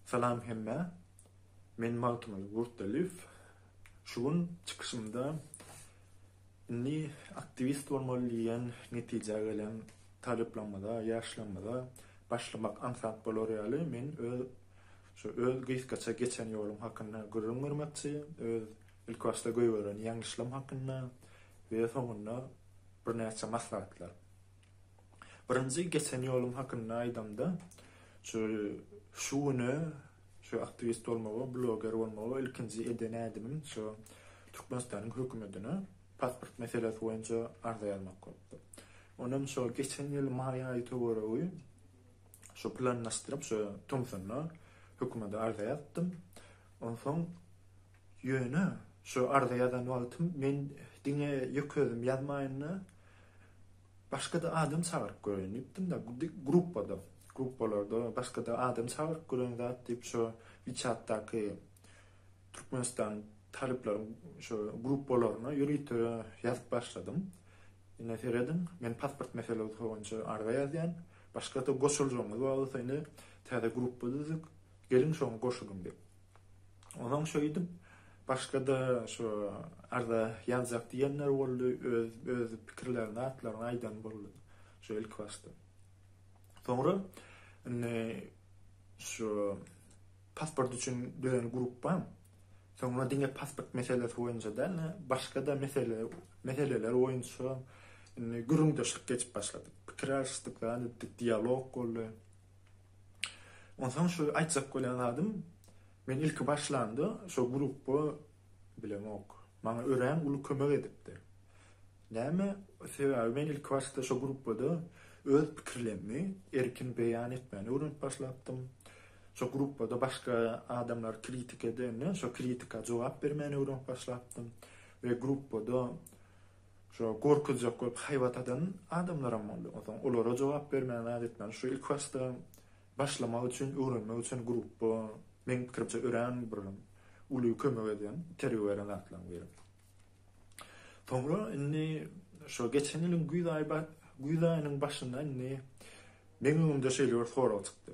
Salam hemmä. Men Magtymguly Gurtdaliýew. Şu gün çykyşymda indi aktiwist bolmaly diýen netijä gelen talyplarymyza, ýaşlarymyza başlamak aňsat bolar ýaly men öz şu öz gysgaça geçen ýolum hakynda gürrüň bermekçi, öz ilkibaşda goýberen ýeňlişlerim hakynda we soňunda birnäçe maslahatlar. Birinji geçen ýolum hakynda aýdamda, şu şu güne şu aktiwist bolmagy, bloger bolmagy ilkinji eden ädimim şu Türkmenistanyň hökümetine pasport meselesi boýunça arza ýazmak bolupdyr. Onem şo geçen ýyl maý aýy töweregi şu planlaşdyryp şu tomsunda hökümede arza ýazdym. Onsoň Ýöne, şu arza ýazan wagtym men diňe ýeke özüm ýazmaýyn-da, başga-da adam çagyryp göreýin diýipdim-de, gruppada, gruppalarda başga-da adam çagyryp gören zat diýip şu WeChat-daky Türkmenistan talyplaryň şu gruppalaryna ýörite ýazyp başladym. Ine, serediň, men pasport meselesi boýunça arza ýazýan, başga-da goşuljagymyz bar bolsa indi täze gruppa düzdük, geliň şoňa goşulyň diýip. Ozaň şeýdip, başga-da şu arza ýazjak diýenler boldy, öz öz pikirlerini, zatlaryny aýdan boldy şu ilkibaşda. Soňra indi şu pasport üçin düzen grupam soňra diňe pasport meselesi boýunça däl, başga-da mesele meseleler boýunça indi gürrüňdeşlik geçip başlady. Pikir alyşdyk, zat etdik, dialog boldy. Onsoň şu aýtjak bolýan zadym, men ilki başlanda şo grupba bilemok. Maňa örän uly kömek edipdir. Näme sebäbi men ilki başda şo grupbada öz pikirlemmi erkin beýan etmäni öwrenip başlapdym. Şo grupbada başga adamlar kritika edende şo kritika jogap bermäni öwrenip başlapdym we grupbada Şo gorkuzjak bolup haýbat adan adamlaram boldy. Onsoň olara jogap bermän zat etmän şu ilkibaşda başlamak üçin, öwrenmek üçin grupba meň pikirimçe örän bir uly kömek edýän, itergi beren zatlaryň biri. Soňra indi şo geçen ýylyň güýz aýy güýz aýynyň başynda indi meň öňümde şeýle bir sorag çykdy.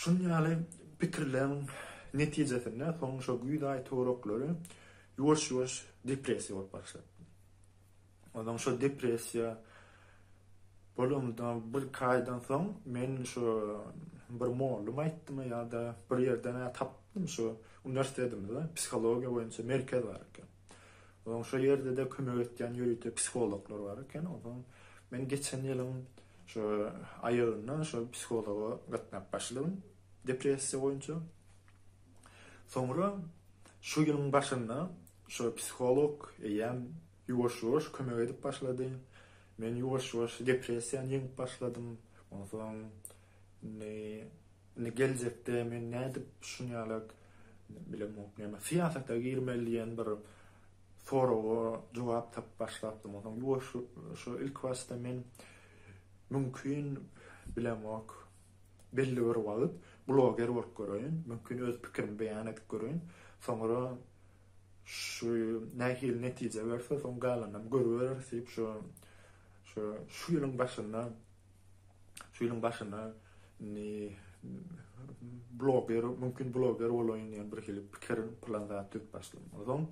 Şunuň ýaly pikirleriň netijesinde soň şo güýz aý toraklary ýuwaş-ýuwaş depressiýa bolup başlapdy. Onsoň şo depressiýa bolandan birki aýdan soň men şo bir mollum aýtdymy ýa-da bir ýerden-ä tapdym şo uniwersitetimizde psihologiýa boýunça merkez bar eken. Onsoň şol ýerde-de kömek etýän ýörite psihologlar bar eken. Onsoň men geçen ýylyň şu aýagynda şol psihologa gatnap başladym depressiýa boýunça. Soňra şu ýylyň başynda şu psiholog eýýäm ýuwaş-ýuwaş kömek edip başlady. Men ýuwaş-ýuwaş depressiýany ýeňip başladym. Onsoň indi Indi geljekde men nädip şun ýala bilemok näme syýasata girmeli diýen bir soraga jogap tapyp başlapdym. Onsoň ýuwaş şo ilkibaşda men mümkin bilemok belli bir wagt bloger bolup göreýin, mümkin öz pikirimi beýan edip göreýin. Soňra şu nähili netije berse soň galanynam görübereris diýip şo şo şu ýylyň başynda Şu ýylyň başyna indi bloger, mümkin bloger bolaýyn diýen bir hili pikirim, plan zat düzüp başladym. Ondan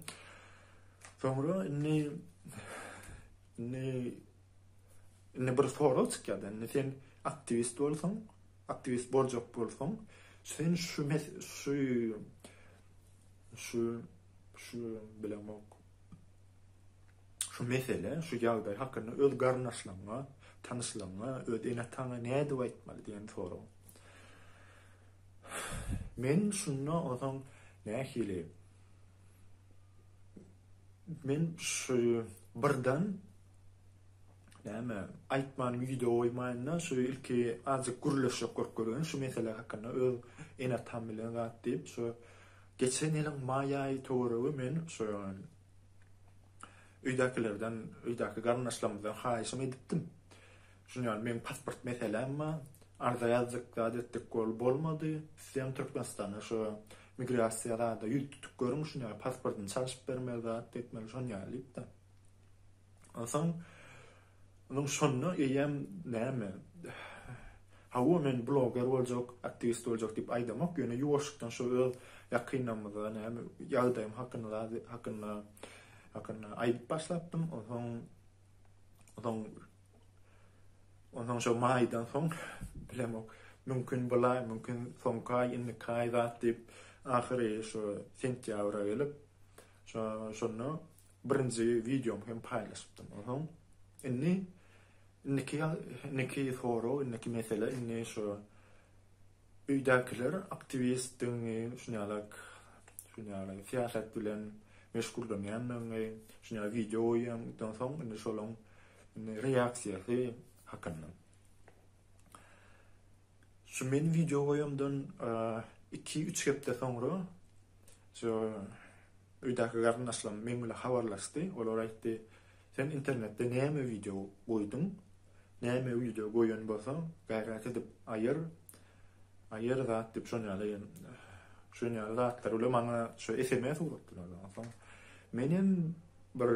soňra indi indi indi bir sorag çykýar. Indi sen aktiwist bolsaň, aktiwist boljak bolsaň, sen şu şu şu şu bilemok. şu mesele, şu ýagdaý hakynda öz garyndaşlaryňa, tanyşlaryňa, öz ene-ataňa nädip aýtmaly diýen sorag. Men şunda onsoň nähili Men şu birden näme aýtman video goýmaýanda şu ilki azjyk gürleşjek görüp görýän şu mesele hakynda öz ene-atam bilen zat diýip şu geçen ýylyň maý aýy töweregi men şu Öýdäkilerden, öýdäki garyndaşlarymyzdan haýyşam edipdim. Şuny ýaly meň pasport meseläm bar. Arza ýazdyk, zat etdik, bol, bolmady. Isleýän Türkmenistana şu migrasiýa zada ýüz tutup görüň, şuny ýaly pasportyny çalşyp bermeli, zat etmeli, şony ýaly diýipdim. Onsoň. Onuň şonda eýýäm näme, hawa men bloger boljak, aktiwist boljak diýip aýdamok, ýöne ýuwaşykdan şo öz ýakynlarymyza näme ýagdaýym hakynda hakynda hakynda aýdyp başlapdym, onsoň onsoň onsoň şo maýdan soň bilemok, mümkin bul aý, mümkin soňky aý, indiki aý zat diýip ahyry şo sentýabra gelip şo şonda birinji wideomy hem paýlaşypdym. Ohoň. Indi indiki indiki sorag, indiki mesele indi şu öýdäkiler aktiwistdigiňi, şuňalak şuňalak syýasat bilen meşgullanýandygyňy, şuňa wideo goýýandan soň indi şolaň reaksiýasy hakynda. Şu men wideo goýamdan iki, üç hepde soňra şu öýdäki garyndaşlarym meň bilen habarlaşdy. Olar aýtdy, Sen internetde näme wideo goýduň? Näme wideo goýan bolsaň, gaýrat edip aýyr. Aýyr zat diýip şon ýaly şon ýaly zatlar bilen maňa şu sms urupdylar. Onsoň menem bir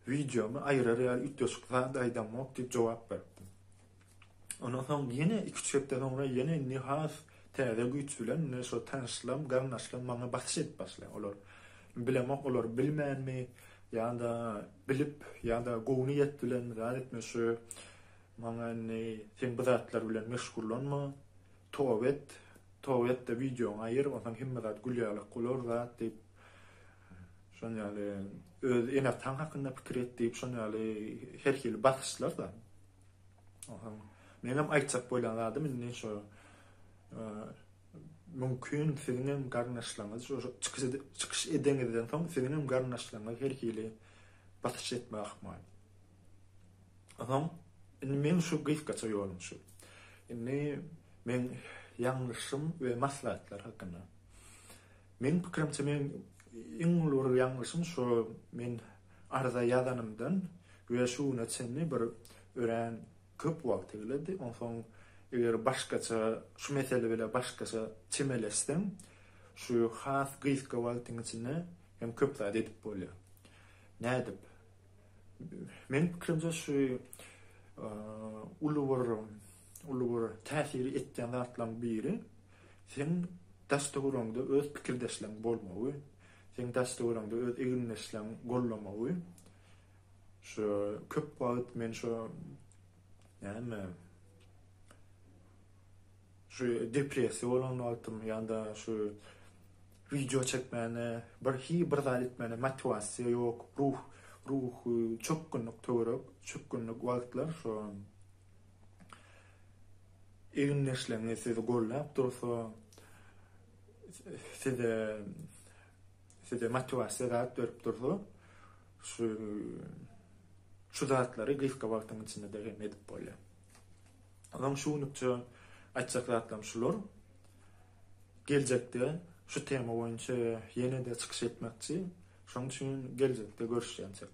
Wideomy aýyrar ýaly üýtgeşik zat aýdamok diýip jogap beripdim. Ondan soň ýene iki-üç hepde soňra ýene indi has täze güýç bilen indi şo tanyşlarym, garyndaşlarym maňa basyş edip başlaýar. Olar bilemok, olar bilmänmi ýa-da bilip ýa-da gowy niýet bilen zat etmekçi maňa indi sen bu zatlar bilen meşgullanma, toba et, toba et-de wideoňy aýyr, onsoň hemme zat gül ýaly bolar zat diýip Şonuň ýaly öz ene-ataň hakynda pikir et diýip şonuň ýaly her hili basyşlar-da. Ohaň menem aýtjak bolýan zadym indi şo mümkin siziň hem garyndaşlaryňyz şu çykyş çykyş edeňizden soň siziň hem garyndaşlaryňyz her hili basyş etme ahmal. Ohaň indi men şu gysgaça ýolum şu. Indi men ýalňyşym we maslahatlar hakynda. Meniň pikirimçe men iň uly bir ýalňyşym şu men arza ýazanymdan we şu güne çenli bir örän köp wagt egledi. Onsoň eger başgaça şu mesele bile başgaça çemeleşsem şu has gysga wagtyň içinde hem köp zat edip bolýar. Nädip? Meniň pikirimçe şu uly bir uly bir täsir etýän zatlaryň biri Seň daş-töweregiňde öz pikirdeşleriň bolmagy, seň daş-töweregiňde öz egindeşleriň gollamagy, şu köp wagt men şu näme, şu depressiýa bolan wagtym ýa-da şu wideo çekmäne, bir hi bir zat etmäne motiwasiýa ýok, ruh, ruhy çökgünlik töwerek, çökgünlik wagtlar şu Egindeşleriňiz sizi goldap dursa, size size motiwasiýa zat berip dursa, şu şu zatlary gysga wagtyň içinde hem edip bolýar. Onuň şu günükçe aýtjak zatlarym şular. Geljekde şu tema boýunça ýene-de çykyş etmekçi. Şonuň üçin geljekde görüşýänçek.